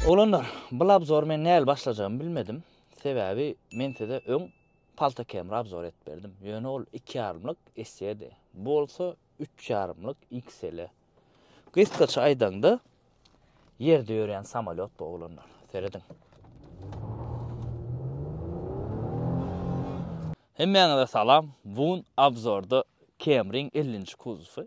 Oglanlar, bul abzory men näl başlajagymy bilmedim, sebäbi men size öň Palta Camera abzory edip berdim, ýöne ol iki ýarymlyk SE-di, bu bolsa üç ýarymlyk XL. Gysgaça aýdaňda, ýerde ýörýän samolýot bu, oglanlar. Serediň. Hemmäňize salam, bugün abzorda Camry-iň ellinji kuzowy,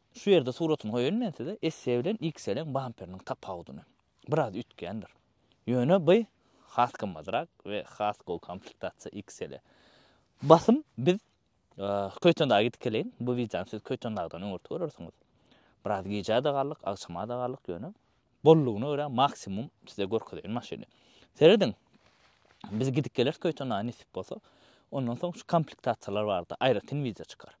Şu ýerde suratyny goýaýyn men size esse bilen ýykselen bamperiniň tapawudyny. Biraz üýtgändir. Ýöne by has gymmadrak we has gowy komplektasiýa ýyksele. Basym biz Köýtendaga gidip geleýin. Bu wideony siz Köýtendagdan öňürti görersiňiz. Biraz gijä-de galdyk, agşama-da galdyk ýöne bollugyna görä maksimum size görkezeýin maşyny. Serediň. Biz gidip geleris Köýtendaga nesip bolsa. Ondan soň şu komplektasiýalar barada aýratyn wideo çykar.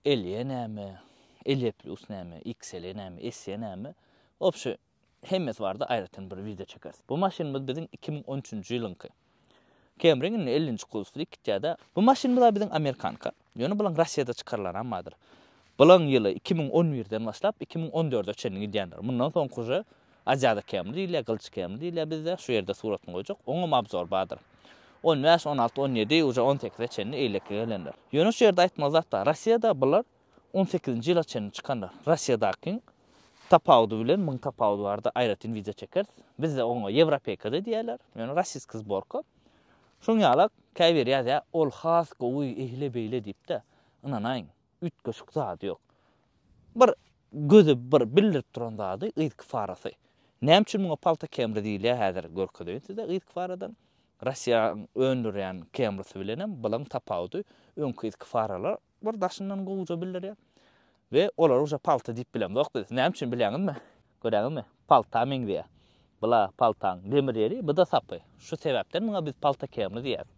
Elýe näme, Elýe plus näme, XLE näme, SE näme, wobşe, hemmesi barada aýratyn bir wideo çekeris. Bu maşynymyz biziň iki müň on üçünji ýylyňky. Camry-ň indi ellinji kursly gitýä-de. Bu maşynymyz-a biziň amerikanka. Ýöne bulaň Rossiýada çykarylanam bardyr. Bulaň ýyly iki müň on birden başlap iki müň on dörde çenli gidýändir. Mundan soňky uje Aziýada kemri diýilýär, gylyç kemri diýilýär bizde. Şu ýerde suratyny goýjak. Oňam abzor bardyr. On bäş, on alty, on ýedi, uje on sekize çenli eýleki gelenler. Ýöne şu ýerde aýtmaly zat bar. Rossiýada bular on sekizinji ýyla çenli çykanlar. Rossiýadakyň tapawudy bilen muň tapawudy bardy, aýratyn wideo çekeris. Bizde oňa ýewropeýka-da diýýärler, ýöne rossiýskiý zborka. Şoň ýalak, käbiri ýazýar, ol has gowy, eýle-beýle diýip-de, ynanaýyň. Üýtgeşik zady ýok. Bir göze bir bildirip duran zady yzky farasy. Näme üçin muňa palta kemri diýilýär häzir görkezeýin size yzky faradan. Russiýanyň öndürýän kemrisy bilenem bilaň tapawudy öňki yzky faralar bir daşyndan gowuja bildirýär. We olary uje palta diýip bilemzok biz. Näme üçin bilýäňizmi? Göräňizmi? Palta meňzeýär. Bula paltaň demir ýeri, bu-da sapy. Şu sebäpden muňa biz palta kermi diýýäs.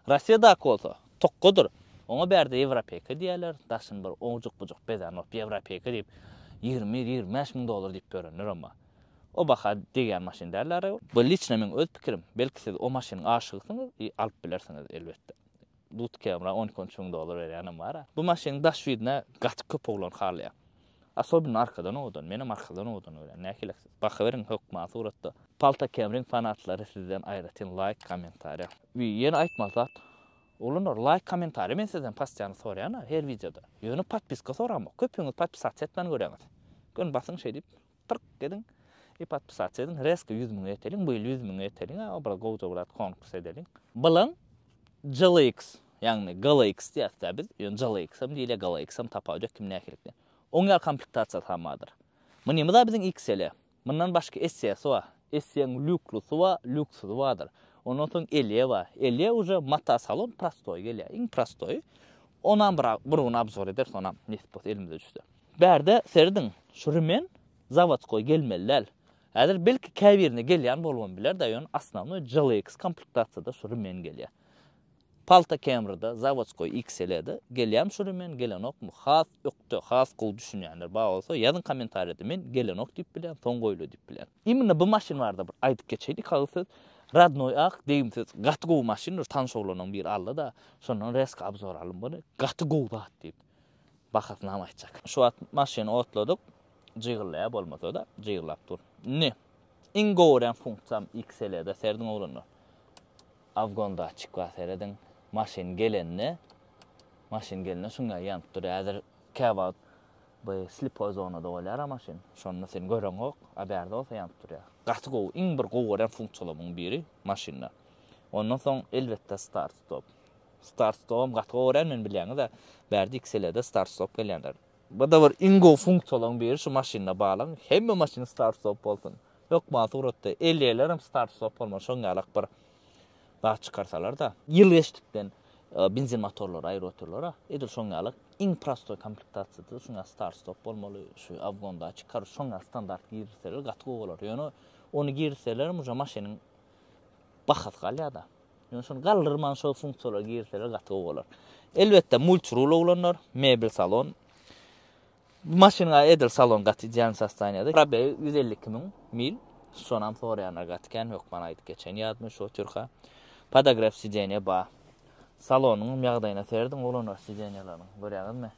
Rossiýadaky bolsa, tokgadyr. Oňa bärde ýewropeýka diýýärler, daşyny bir owjuk-bujuk bezän bolup, ýewropeýka diýip, ýigrimi, ýigrimi bäş müň dollar diýip ýörenler, emma o baha degýän maşyn däl-ä. Bu liçno meň öz pikirim. Belki siz o maşynyň aşygysyňyz i alyp bilersiňiz, elbetde. Dut kemra on iki-on üç müň dollar berýänem bar-a. Bu maşynyň daş ýüzüne gaty köp oglan halýar. Asobynda arkadan owadan. Menem arkadan owadan görýän. Nähiliksiz. Bakyberiň hökman suratda. Palta kemryň fanatlary sizden aýratyn laýk kommentariýa. Wi ýene aýtmaly zat. Oglanlar laýk kommentariýa men sizden pastiýany soraýan-a her wideoda. Ýöne podpiska soramok. Köpüňiz podpisasiýa etmän görýäňiz. Göni basyň şeýdip. Tyrk ediň, i podpisatsa ediň, rezko ýüz müňe ýeteliň, bu ýyl ýüz müňe ýeteliň, a bir gowja bir zat konkurs edeliň. Bilen GLX, ýagny GLX diýäs-dä biz, ýöne GLX-am diýilýär, GLX-am tapawudy ýok, kim nähililikde. Oň ýaly komplektasiýasy hem bardyr. Mynymyz-a biziň XL-e. Mundan başga SE-si bar. SE-niň lýuklusy bar, lýuksuzy bardyr. Ondan soň Elýe bar. Elýe uje motosalon prostoýy gelýär, iň prostoýy. Onam bir bir gün obzor ederis, onam nesip bolsa elimize düşse. Bärde serediň, şu Rimen zawodskoý gelmeli däl. Häzir belki käbirine gelýän bolubam biler-de, ýöne osnownoý JLX komplektasiýada şu Rimen gelýär. Palta Camry-da, zawodskoý XL-de gelýärmi şu Rimen, gelenokmy? Has ökde, has gowy düşünýänler bar bolsa, ýazyň kommentariýada, men gelenok diýip bilýän, soň goýular diýip bilýän. Imенно bu maşyn barada bir aýdyp geçeýin iki agyz söz. Radnoý ak, degimsiz, gaty gowy maşyn, bir tanyş oglanyň biri aldy-da, şondan reska obzor aldym buny, gaty gowy zat diýip. bahasyny ham aýtjak. Şu wagt maşyny otladyk, jygyldaýar bolmasa-da, jygyllap dur. Indi iň gowy örän funksiýam XL-de serediň oglanlar. Afgon datçik bar serediň. Maşyn gelende, maşyn gelende şuň ýaly ýanyp durýar. Häzir käwagt bu slipoý zonada bolýar-a maşyn. Şonda sen göreňok, a bärde bolsa ýanyp durýar. Gaty gowy, iň bir gowy gören funksiýalaryň biri maşynda. Ondan soň elbetde start-stop. Start stogam gaty gowy görýän men bilýäňizä bärde iki selede start stop gelýänler. Bada bir iň gowy funksiýalaryň biri şu maşynda balan hemme maşyn start stop bolsun. Hökman suratda elýelerem start stop bolmaly şoň ýalak bir zat çykarsalarda. Ýyl geçdikden benzin motorlary aýryp otyrlara edil şoň ýalak iň prostoý komplektasiýada şuň ýaly start stop bolmaly şu awgondaky karoç şoň ýaly standart girizseler gaty gowy bolar ýöne ony girizselerem uje maşynyň bahasy galýar-da. Ýöne şony galdyrman şol funksiýalary girseler gaty gowy bolar. Elbetde multirul oglanlar, mebel salon. Bu maşyna edil salon gaty ideal sostaniýada. Probeg 152 müň mil. Şonam soraýanlar gaty kän, hökman aýdyp geçen ýadymy şo türka. Podogref sideniýe bar. Salonyň ýagdaýyna serediň oglanlar sideniýalaryň. Görýäňizmi?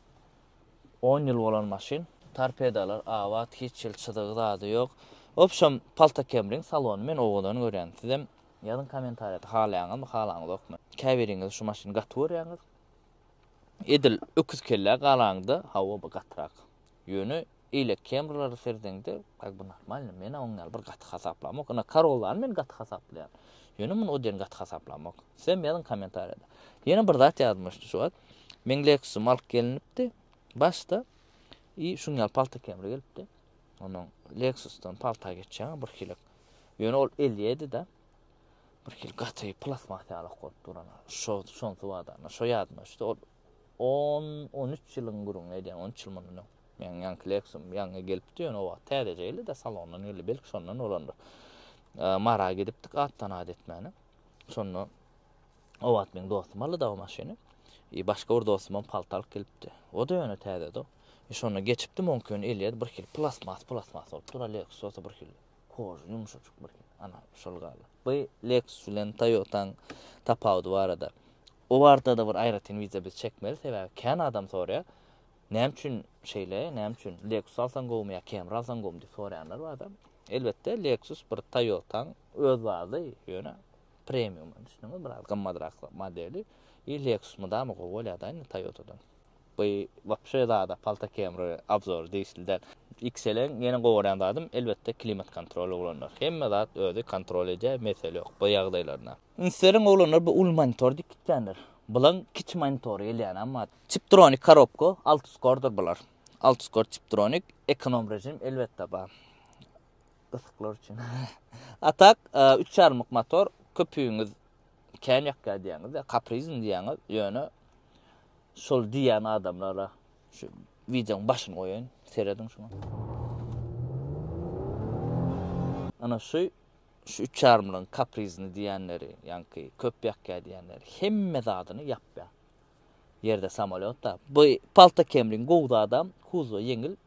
On ýyl bolan maşyn. Torpedalar abat hiç hil çyzygy zady ýok. Wobşem palta kemriň salony men owadan görýän sizem ýazyň komentarýada halaýaňyzmy halaňyzokmy käbiriňiz şu maşyny gaty görýäňiz edil öküz kellä galaňda hawa bu gatyrak ýöne Eýle kemrleri serdeňde, Aý bu normalny, menä oň ýaly bir gaty hasaplamok. Ynha Karolany men gaty hasaplaýan. Ýöne muny o den gaty hasaplamok. Sizem ýazyň kommentariýada. Ýene bir zat ýadymyşdy şu wagt. Men Lexusym alyp gelinipdi. Başda i şuň ýaly palta kemri gelipdi. Onuň Lexusdan palta geçýän bir hili. Ýöne ol elýedi-de. Bir hili gaty plasmas ýaly okup duran. Şo şonsy wadana, şo ýadyma düşdi. Ol On-on üç ýylyň gürrüňini edýän, on üç ýyl mundan öň. Meniň ýaňky Lexusym ýaňy gelipdi, ýöne o wagt täzeje geldi-de, salondan geldi, belki şondan bolandyr. Mara gidipdik atdan at etmäne. Şonda o wagt meniň dostum aldy-da o maşyny. E, başga bir dostum hem palta alyp gelipdi. O-da ýöne täzedi. E, şonda geçipdim, oňki ýöne elýet bir hil plastmas, plastmas bolup dur, Lexus bolsa bir hil koža, ýumşajyk bir hil. Ana, şol galdy. Bu Lexus bilen Toyota-nyň tapawudy barada. O barada-da bir aýratyn wideo biz çekmeli, sebäbi kän adam soraýar, näme üçin şeýle, näme üçin Lexus alsaň gowumy ýa Camry alsaň gowumy diýip soraýanlar bar-da. Elbetde, Lexus bir Toyota-nyň öz bazy, ýöne premium, düşündiňizmi, biraz gymmadrak modeli. I Lexus mydama gowy bolýar-da indi Toyota-dan. Bu wapşe zada palta Camry obzory degişli däl. XL-iň ýene gowaran zadym, elbetde, klimat kontroly ulanylýar. Hemme zat özi kontrol edýär, mesele ýok bu ýagdaýlarda. Ünslerin oglanlar bu uly monitor diýip gitýänler. Bulaň kiçi monitory gelýänam bar. Chiptronic korobka, altuskordyr bular. Altuskor chiptronic, ekonom režim elbetde bar. Gysyklary üçin. A tak, üç ýarymlyk motor, köpügiňiz kän ýakýar diýýäňizde, kaprizn diýýäňiz, ýöne şol diýýän adamlara şu wideoň başyny goýaýyn, serediň şuňa. Ana şu Şu üç ýarymlygyň kaprizini diýýänleri, ýaňky köp ýakýa diýýänleri hemme zadyny ýapýa. Ýerde samolýotda. Bu palta kemriň gowy zadam, kuzwa ýeňil,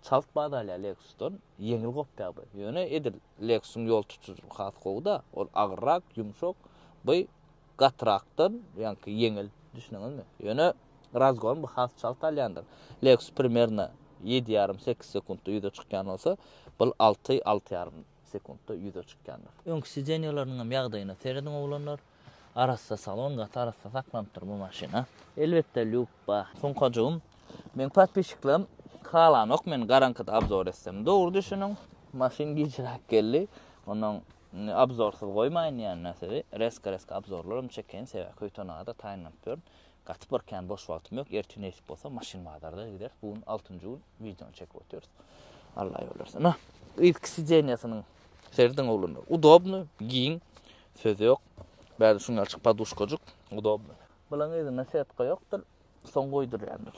çalt bat alýa Lexusdan, ýeňil gopýa bu. Ýöne edil Lexusyň ýol tutujylygy has gowy-da, ol agyrrak, ýumşak, bu gatyrakdan, ýaňky ýeňil, düşündiňizmi? Ýöne razgon bu has çalt alýandyr. Lexus primerno ýedi ýarym, sekiz sekuntda ýüze çykýan bolsa, bul alty, alty ýarym. sekuntda ýüze çykýandyr. Öňki sideniýalarynyň hem ýagdaýyna serediň oglanlar. Arassa salon gaty arassa saklanypdyr bu maşyna. Elbetde lýubba. Sunkajygym meň podpisçiklerim halanok men garaňkyda obzor etsem. Dogry düşüniň maşyn gijiräk geldi. Ondan indi obzorsyz goýmaýyn diýän näsedi. Reska reska obzorlaram çekeýin sebäbi köýtenagada taýynlanyp ýörün. Gaty bir kän boş wagtym ýok ertir nesip bolsa maşyn bazarda gideris bu gün altynjy gün wideony çekip otyrys Alla ýol bersin na yzky sidenýasynyň serediň oglanlar udobny giň söz ýok bäri şuň ýalçyk poduşkajyk udobny Bulaň yzynda setka ýokdyr soň goýdurýandyr.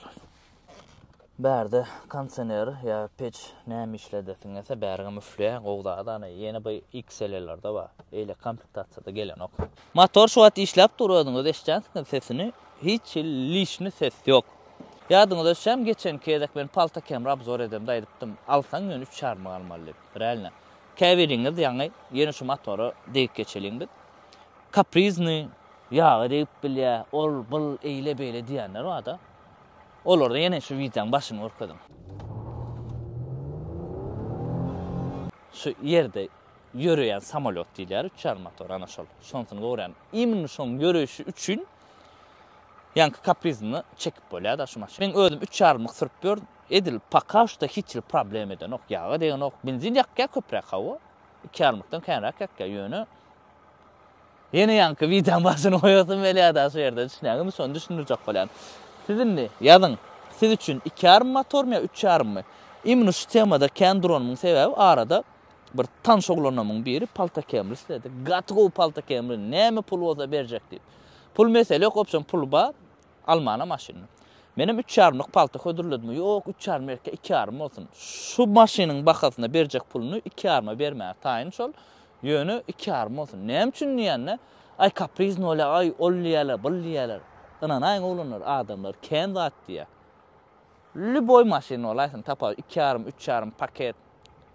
Bärde konsener ýa peç näme işledesiňese bärigem üfleýär gowy zat ana ýene bu XLR-lerde bar eýle komplektasiýada gelenok. Motor şu wagt işläp dur özüňiz eşitjänsiňiz sesini hiç hil lişni ses ýok. Ýadyňyza düşýämi geçen gezek men palta kemri obzor edemde aýdypdym alsaň ýöne üç ýarymyň almaly diýip realno käbiriňiz ýaňy ýene şu motora degip geçeliň biz kaprizni ýagy degip bilýär ol bul eýle beýle diýýänler barda Olarda ýene şu wideoň başyny görkeziň. Şu ýerde ýöreýän samolýot diýilýär, üç ýarym motor, ana şol. Şonsyny görýän. Imенно şoň ýöreýşi üçin ýaňky kaprizyny çekip bolýar-da şu maşyn. Men özüm üç ýarymlyk sürüp ýörün. Edil poka şda hiç hili problem edenok, ýaga degenok. Benzin ýakýar köpräk hawa. Iki ýarymlykdan känräk ýakýar, ýöne. Ýene ýaňky wideoň başyny goýasym gelýärda şu ýerde düşünýäňizmi şony düşündirjek bolýan. Siz indi ýazyň siz üçin iki ýarym motormy ýa üç ýarymmy? Imni şu temada kän duranymyň sebäbi arada bir tanyş oglanamyň biri palta kemri isledi. Gaty gowy palta kemri näme pul bolsa berjek diýip. Pul mesele ýok opşon pul bar. Almana maşynyny. Menem üç ýarymlyk palta hödürledim. Ýok, üç ýarym erke, iki ýarym bolsun. Şu maşynyň bahasyna berjek puluny iki ýaryma bermäge taýyn şol. Ýöne iki ýarym bolsun. Näme üçin diýende, Aý, kaprizn bolýar, aý, ol diýerler, bul diýerler. Ynanaýyň oglanlar, adamlar kän zat diýýär. Lýuboý maşyn bolaýsyn, tapar, iki ýarym, üç ýarym paket.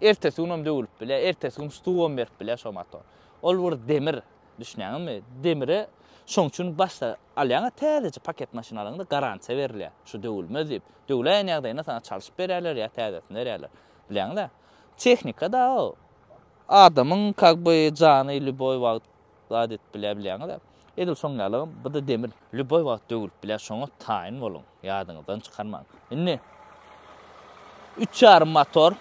Ertesi günem döwülip bilýär, ertesi gün stuwam berip bilýär şo motor. Ol bir demir, düşünýäňizmi? Demire şoň üçin başda Alýaňa täzeje paket maşyn alaňda garantiýa berilýär. Şu döwülmez diýip, döwläýen ýagdaýynda saňa çalşyp berýärler ýa täzesini berýärler. Bilýäňdä? Tehnika dagy adamyň kak by jany lýuboý wagt zat edip bilýär bilýäňizä. Edil şoň ýalygam bu-da demir. Lýuboý wagt döwülip bilýär şoňa taýyn boluň. Ýadyňyzdan çykarmaň. Indi üç ýarym motor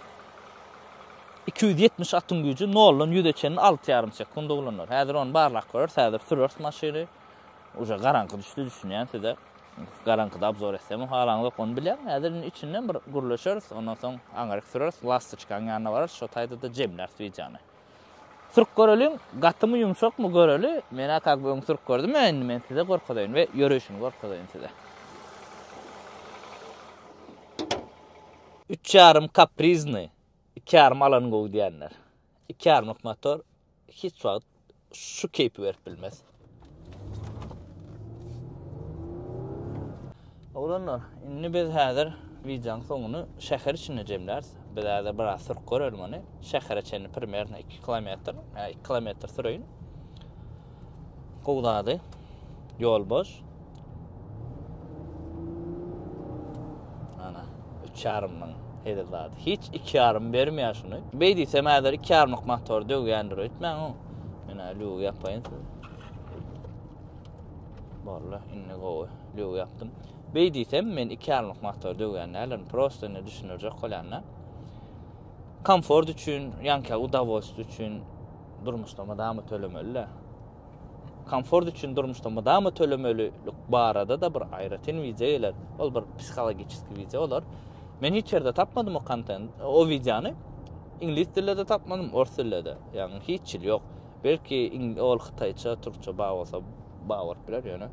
iki ýüz ýetmiş atyň güýji noldan ýüze çenli alty ýarym sekunda ulanýar. Häzir ony barlap görers, häzir süreris maşyny. Uje garaňky düşdi düşünýän size. Garaňkyda obzor etsem halaňyzok ony bilýän. Häzir indi içinden bir gürleşeris, ondan soň aňryk süreris, lastoçkanyň ýanyna bararys, şo taýda-da jemläris wideony. Sürüp göreliň, gatymy ýumşakmy göreli. Men-ä kak bir öň sürüp gördüm, ä indi men size görkezeýin we ýöreýşini görkezeýin size. Üç ýarym kaprizni, iki ýarym alan gowy diýenler. Iki ýarmyk motor hiç wagt şu keýpi berip bilmez. Oglanlar, indi biz häzir wideoň soňuny şäher içinde jemläris. Biz häzir biraz sürüp görelim ony. Şähere çenli primerno iki kilometr, iki kilometr süreýin. Gowy zady. Ýol boş. Ana, üç ýarym müň. Hezil zady. Hiç iki ýarym bermeýär şuny. Beý diýsem, häzir iki ýarymlyk motor döwýändir, öýtmäň-ow. Menä lügi ýapaýyn size. Boldy, indi gowy. Lügi ýapdym. Beý diýsem, men iki ýarymlyk motor döwýän däldirin. Prosta indi düşündirjek bolýan-da. Komfort üçin, ýanka udowolstwo üçin Durmuşda mydama tölemeli-dä. Komfort üçin durmuşda mydama tölemelilik barada-da bir aýratyn wideo geler. Ol bir psihologiçeski wideo bolar. Men hiç ýerde tapmadym o kontent, o wideony. Iňlis dilinde tapmadym, ors dilinde. Ýagny hiç ýyl ýok. Belki ol hytaýça, türkçe bar bolsa, Bawurt biler ýöne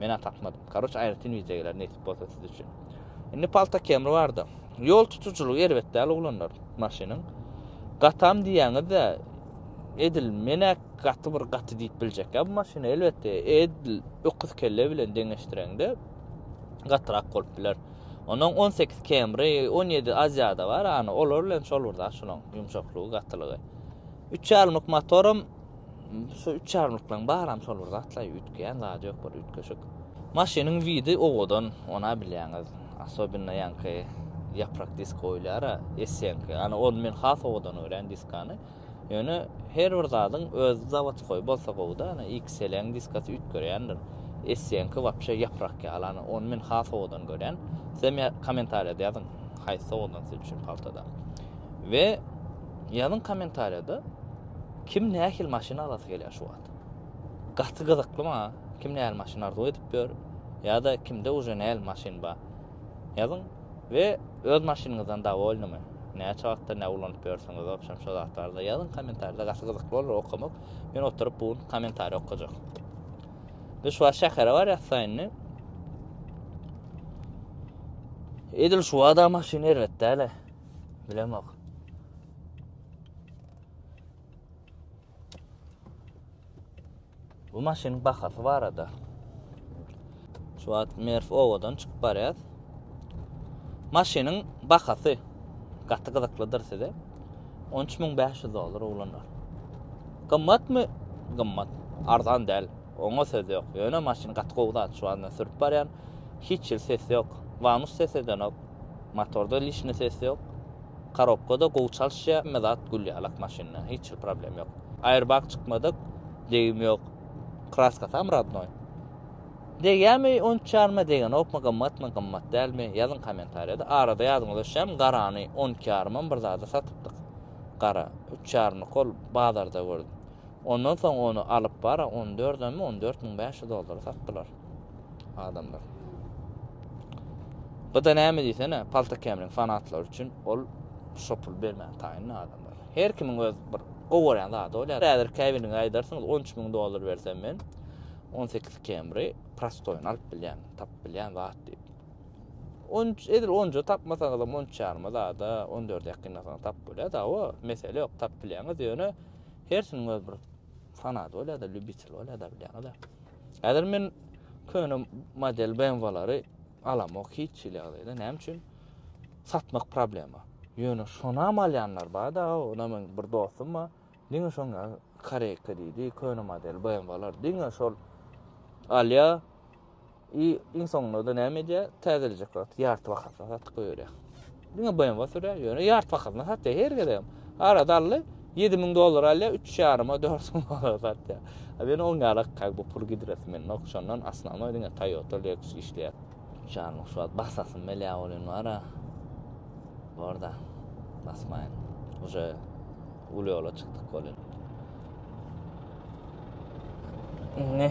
mena tapmadym. Karoç aýratyn wideo geler nesip bolsa siz üçin. Indi palta kemri barda. Ýol tutujylygy erbet däl oglanlar maşynyň. Gatam diýýäňizde edil mena gaty bir gaty diýip biljek ýa bu maşyny elbetde edil öküz kelle bilen deňeşdireňde gatyrak bolup biler. Onuň 18 kemri, 17 aziýada bar, ýany olar bilen şol bir zat şolaň ýumşaklygy, gatylygy. Üç ýarymlyk motorum Şu üç ýarymlyklaryň baram şol bir zatlaý, üýtgeýän zady ýok, bir üýtgeşik. Maşynyň widi owadan, onä bilýäňiz. Asobinno ýaňky ýaprak disk goýulýar-a, esýäňki. Ana ony men has owadan görýän diskany. Ýöne her bir zadyň öz zawodskoý bolsa gowy-da, ana XL-iň diskasy üýtgerýändir. Esýäňki wapşe ýaprak ýaly, ana ony men has owadan görýän. Sizem kommentariýada ýazyň, haýsy owadan siz üçin paltada. We ýazyň kommentariýada. Kim nähili maşyn alasy gelýär şu wagt? Gaty gyzykly maňa kim nähili maşyn arzuw edip ýör ýa-da kimde uje nähili maşyn bar? Ýazyň we öz maşynyňyzdan dawolnymy? Näçe wagtdan bäri ulanyp ýörsüňiz wobşem şo zatlarda ýazyň komentarda gaty gyzykly bolar okamak. Men oturyp bu gün komentariý okajak. Biz şu wagt şähere barýas saýyndy. Edil şu wada maşyn erbet däle. Bilemok. Bu maşynyň bahasy barada. Şu wagt Merf owadan çykyp barýar. Maşynyň bahasy gaty gyzyklydyr size. 13500 dollar oglanlar. Gymmatmy? Gymmat. Arzan däl. Oňa söz ýok. Ýöne maşyn gaty gowy zat. Şu wagt sürüp barýan. Hiç ýyl ses ýok. Vanus ses edenok. Motorda lişni ses ýok. Karobkada gowy çalyşýa hemme zat gül ýaly ak maşynda hiç hil problem ýok. Airbag çykmadyk degim ýok kraskasam radnoý. Degýämi on üç ýaryma degenokmy gymmatmy gymmat dälmi ýazyň komentarýada arada ýazyň öşem garany on iki ýarymam bir zada satypdyk gara üç ýarymyk ol bazarda gördüm ondan soň ony alyp bara on dördemi on dört müň bäş ýüz dollara satdylar. adamlar. Bu da näme diýsene, palta kemliň fanatlary üçin ol şo pul bermän taýyn adamlar. Her kimiň öz bir gowaran zady bolýar. Häzir käbiriniň aýdarsyňyz 13 müň dollar bersem men 18 kemri prostoýun alyp bilýän, tapyp bilýän zat diýip. 13 edil 10 tapmasaňyz hem 13 ýaryma zada 14 ýakynlasaňyz tapyp bolýar. Dawa, mesele ýok, tapyp bilýäňiz. Ýöne hersiniň öz bir fanaty bolýar-da, lübitel bolýar-da bilýäňiz. Häzir men köne model BMW-lary alamok hiç hili ýagdaýda. Näme üçin? Satmak problema. Ýöne şonam alýanlar bar-da, onam men bir dostum bar. Diňe şoň Koreýka diýdi, köne model BMW-lar diňe şol alýa. I iň soňunda näme edýär? Täzelejek wagty ýarty bahasy satyp goýýar. Diňe BMW sürýär, ýöne ýart bahasyna satýar her gezegem. Ara dally 7000 dollar alýar, 3,5-a 4000 dollar satýar. A men oň ýaly kak bu pul gidres men nok şondan asnanoý diňe Toyota Lexus işleýär. Çarmyk şu wagt basasym belä bolýan bara. Barda. Basmaýyn. Uje uly ýola çykdyk bolýar. Ne?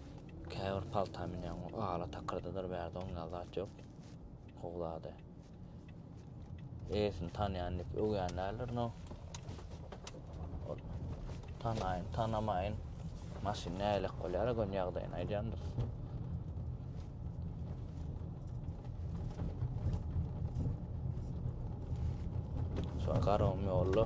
Käbir palta münýäň, ala takyrdydyr bärde oň ýaly zat ýok. Howlady. Eýesini tanýan diýip öwýän däldir, no. Tanaýyn, tanamaýyn. Maşyn nälelik bolýar, gön ýagdaýyny aýdýandyr. Şo garawym ýolda.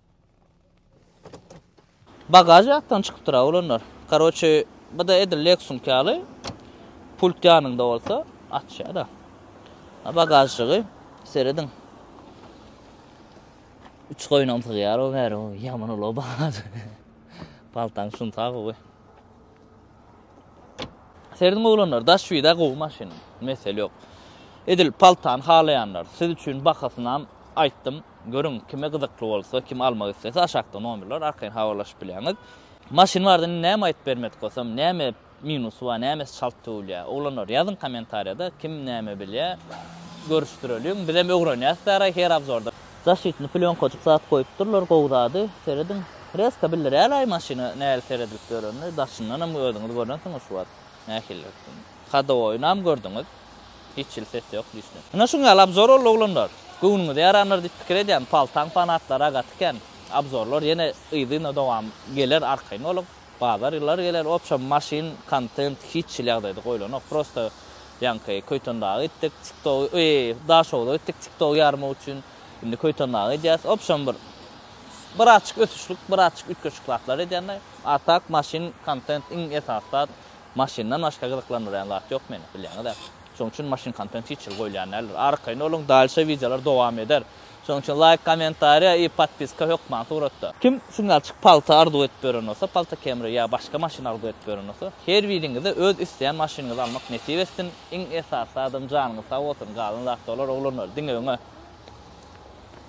Bagaž ýatdan çykypdyra olanlar. Karoçe bada edil Lexus ýaly pult ýanynda bolsa açýada. Bagažjygy serediň. Üç goýunam sygýar o bäri o ýaman uly bagaž. Paltaň şun sag gowy. Serediň oglanlar daş wida gowy maşyn mesel ýok. Edil paltany halaýanlar siz üçin bahasynam aýtdym görüň kime gyzykly bolsa kim almak islese aşakda nomerler arkaýyn habarlaşyp bilýäňiz. Maşyn barada indi näme aýdyp bermedik bolsam näme minusy bar nämesi çalt döwülýär oglanlar ýazyň komentariýada kim näme bilýär görüşdireliň bizem ögrenýäs bäraý her abzorda. Zaşitni plýonkajyk zat goýupdyrlar gowy zady serediň. Freska bildirälaý maşyna nähili seredilip ýörenini daşyndanam özüňiz görensiňiz şu wagt nähilidir hadowoýynam gördüňiz hiç hili ses ýok diýişli. Ine şuň ýaly abzor boldy oglanlar. Göwnüňize ýarandyr diýip pikir edýän paltaň fanatlary gaty kän. Abzorlar ýene yzyna dowam geler arkaýyn boluň. Bazar ýyllar geler opşam maşyn kontent hiç hili ýagdaýda goýlanok prosta ýaňky Köýtendaga gitdik tiktogy eý daşogza gitdik tiktogy ýarmak üçin indi Köýtendaga gidýäs opşam bir bir azçyk ösüşlik bir azçyk üýtgeşik zatlar edýände a tak maşyn kontent iň esasy zat maşyndan başga gyzyklandyrýan zat ýok meni bilýäňizä şoň üçin maşyn kontent hiç hili goýulýan däldir arkaýyn boluň dalşa wideolar dowam eder. Şonuň üçin laýk kommentariýa i podpiska hökman suratda. Kim şuň ýalçyk palta arzuw edip ýören bolsa palta kemri ýa başga maşyn arzuw edip ýören bolsa her biriňize öz isleýän maşynyňyzy almak nesip etsin iň esasy zadam janyňyz sag bolsun galan zat dolar oglanlar diňe öňe.